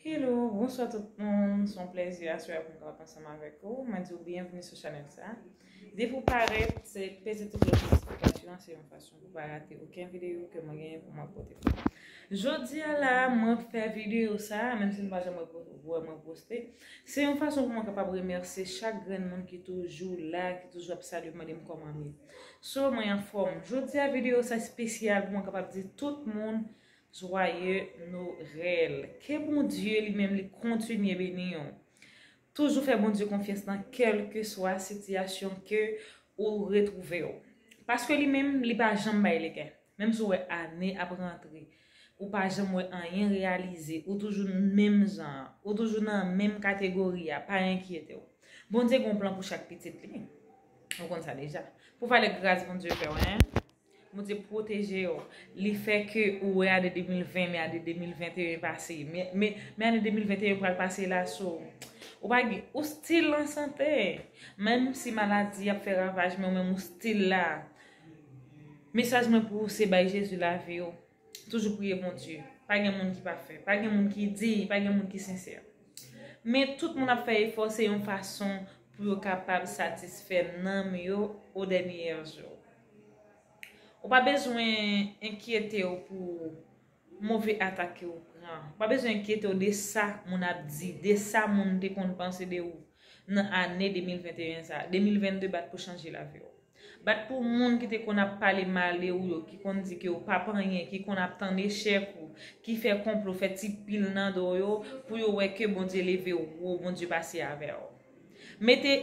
Hello, bonswa tout moun, se yon plezi aswè a pou m kapab ansanm avèk ou. Mwen di ou byenvni sou chanèl sa. Depi ou parèt, se peze tou klòch notifikasyon an, se yon fason pou pa rate oken videyo ke mwen genyen pou mwen pote pou ou. Jodi a la, mwen fè videyo sa, menm si nou pa janm wè mwen poste, se yon fason pou mwen kapab remèsye chak grenn moun ki toujou la, ki toujou ap salye m, mande m kòman m ye. So, mwen anfòm. Jodi a videyo sa spesyal pou mwen kapab di tout moun Joyeux Noël Ke Bondye li menm li kontinye beni w. Toujou fè Bondye konfyans nan kèlkeswa sitiyasyon ke ou retwouve w. Paske li menm li pa janm bay legen. Menm si w wè ane ap rantre, ou pa janm wè anyen reyalize, ou toujou menm jan an, ou toujou nan menm kategori a, pa enkyete w. Bondye gen yon plan pou chak pitit li. Ou konn sa deja. Pou valè gras Bondye fè w hein. Bondye protejew. Li fè ke ou wè ane 2020 men ane 2021 pase. Men ane 2021 pral pase la so. Ou pa gen, ou still an sante. Menm si maladi ap fè ravaj men ou menm ou still la. Mesaj mwen pou ou se bay Jezi lavi ou. Toujou priye Bondye. Pa gen moun ki pa fè. Pa gen moun ki di. Pa gen moun ki sensè. Men tout moun ap fè efò se yon fason pou yo kapab satisfè nanm yo o dèniyè jou. Ou pa bezwen enkyete w pou move atak ke ou pran. Ou pa bezwen enkyete w de sa moun ap di, de sa moun te konn panse de ou nan ane 2021 sa a. 2022 bat pou chanje lavi w. Bat pou moun ki te konn ap pale mal de ou yo, ki konn di ke ou pap anyen, ki konn ap tann echèk ou, ki fè konplo, fè ti pil nan do yo pou yo wè ke Bondye leve w wo, Bondye pase avè w. Mete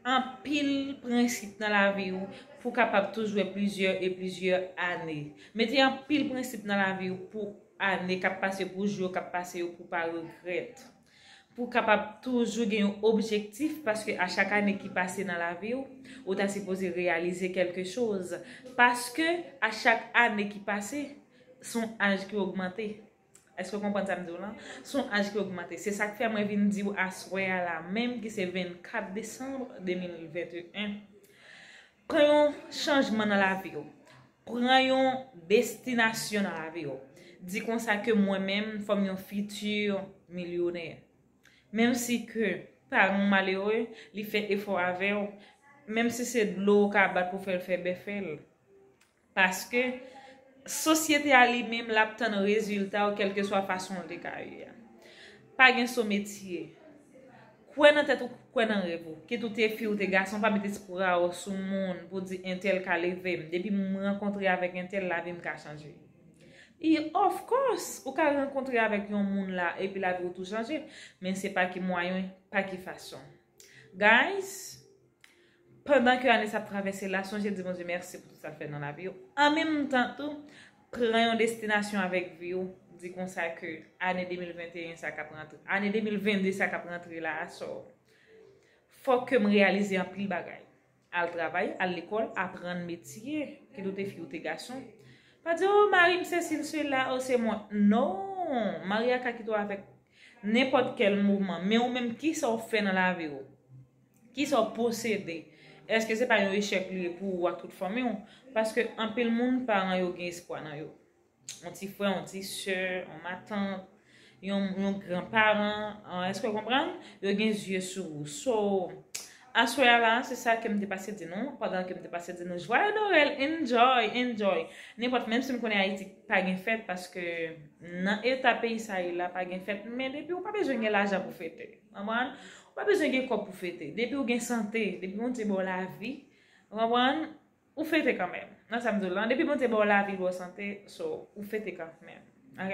anpil prensip nan lavi ou pou kapab tou jwe plizyè e plizyè ane. Mete anpil prensip nan lavi ou pou ane kap pase pou jou yo kap pase yo pou pa regrèt. Pou kapab toujou gen yon objektif paske a chak ane ki pase nan lavi ou, ou ta sipoze reyalize kelke choz. Paske a chak ane ki pase son aj ki ogmante. Èske w konprann sa m di w lan? S on aj ki ogmante. Se sa k fè mwen vin di w aswè a la menm ki se 24 desanm 2021, pran yon chanjman nan lavi w. Pran yon destinasyon nan lavi w. Di konsa ke mwen menm fò m yon fiti milyonè. Menm si ke paran w malere, li fè efò avè w, menm si se dlo w ka bat pou fè l fè bè fè l. Paske, sosyete a li menm l ap tann rezilta w kèlkeswa fason w te ka ye a. Pa gen so metye. Kwè nan tèt ou, kwè nan rèv ou. Kit ou te fi ou te gason, pa met espri a w sou moun pou di entèl ka leve m. Depi m rankontre avèk entèl, lavi m ka chanje. I, of course! Ou ka rankontre avèk yon moun la epi lavi w tou chanje. Men se pa ki mwayen, pa ki fason. Guys, pandan ke ane sa ap travèse la, sonje di Bondye mèsi pou tout sa l fè nan lavi w. An menm tan tou, pran yon destinasyon avèk vi w, di konsa ke ane 2021 sa k ap rantre, ane 2022 sa k ap rantre la a, so, fòk ke m reyalize anpil bagay. Al travay, al lekòl, aprann metye, kit ou te fi ou te gason. Pa di, oh mari m sesi l sela, oh se mwen. Non! Mari a ka kite w avèk nenpòt kèl mouvman. Men ou menm, ki sa w fè nan lavi w? Ki sa w posede? Eske se pa yon echèk li ye pou ou ak tout fanmi w? Paske anpil moun, paran yo gen espwa nan yo. yon ti frè, yon ti sè, yon matant, yon gran paran, eske ou konprann? Yo gen zye sou ou. So, aswè a la, se sa kem te pase di nou, pandan kem te pase di nou jwaye Noel, enjoy, enjoy. Nenpòt, menm si m konnen Ayiti pa gen fèt, paske nan eta peyi sa ye la pa gen fèt, men depi ou pa bezwen gen lajan pou fete. Konprann? Ou pa bezwen gen kòb pou fete. Depi ou gen sante, depi Bondye ba w lavi, ou konprann? Ou fete kanmenm nan sam diw lan depi bondye baw lavi baw sante so ou fete kanmenm ok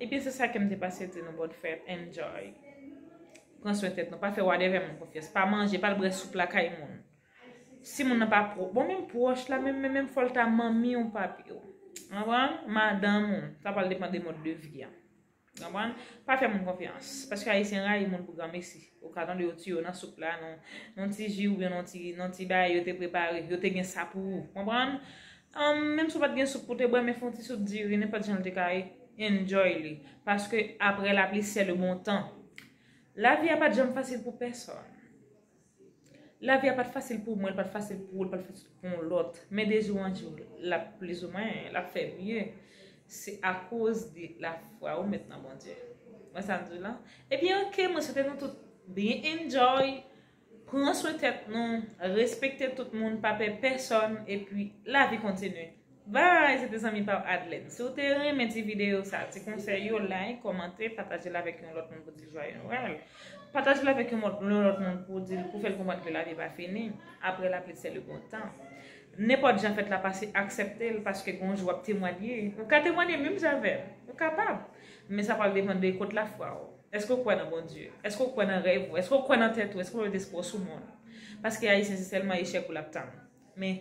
ebyen se sa kem te pase di nou bon fèt enjoy pran swen tèt nou pa fè wadèvè moun konfyans pa manje pal brè soup lakay moun si moun nan pa pwòp bon menm pwòch la menm menm fòl ta manmiw papiw anpran madanm ou sa pral depan de mòd de vi an. Konprann? Pa fè moun konfyans. Paske ayisyen rayi moun pou granmesi. Ou ka tande yo tiye w nan soup la, nan yon ti ji oubyen nan yon ti bagay yo te prepare. Yo te gen sa pou ou. Konprann? Menm si w pa t gen soup pou w te bwè, men fè yon ti soup diri, nenpòt jan l te ka ye, enjoy li. Paske aprè lapli sè le bon tan. Lavi a pa t janm fasil pou pèsòn. Lavi a pat fasil pou mwen, li pat fasil pou ou, li pat fasil pou yon lòt. Men de jou an jou, l ap plizoumwen, l ap fè mye. Se akoz de lafwa ou met nan Bondye. Wè sa m di w la? Ebyen ok, mwen swete nou tout byen enjoy, pran swen tèt nou, respekte tout moun, pa pè pèsòn, epi lavi kontinye. Bye se te zanmi pa w Adlène si w te renmen ti videyo sa ti konsèy yo like kòmante pataje l avèk yon lòt moun pou w di l jwaye nwèl pataje l avèk yon lòt moun pou w di l pou w fè l konprann ke lavi pa fini aprè lapli sè le bon tan nenpòt jan fèt la pase aksèpte l paske gon jou w ap temwanye ou ka temwanye menm jan avè m ou kapab men sa pral depann de kot lafwa w èske w kwè nan Bondye èske w kwè nan rèv ou èske w kwè nan tèt ou èske w met espwa w sou moun paske ayisyen se sèlman echèk ou l ap tann. Men,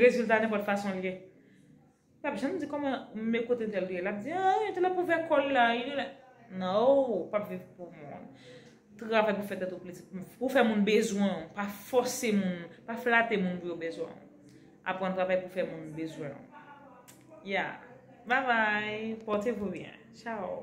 rezilta nenpòt fason l ye. Li pap janm di kòman, men kote entèl te ye. L ap di, an, entèl ap ouvè kò l la. Non, ou pap viv pou moun. Travay pou fè tèt ou plezi. Pou fè moun bezwen ou. Pa fòse moun. Pa flate moun pou yo bezwen ou. Aprann travay pou fè moun bezwen ou. Ya. Babay. Pòte vou byen. Chaw.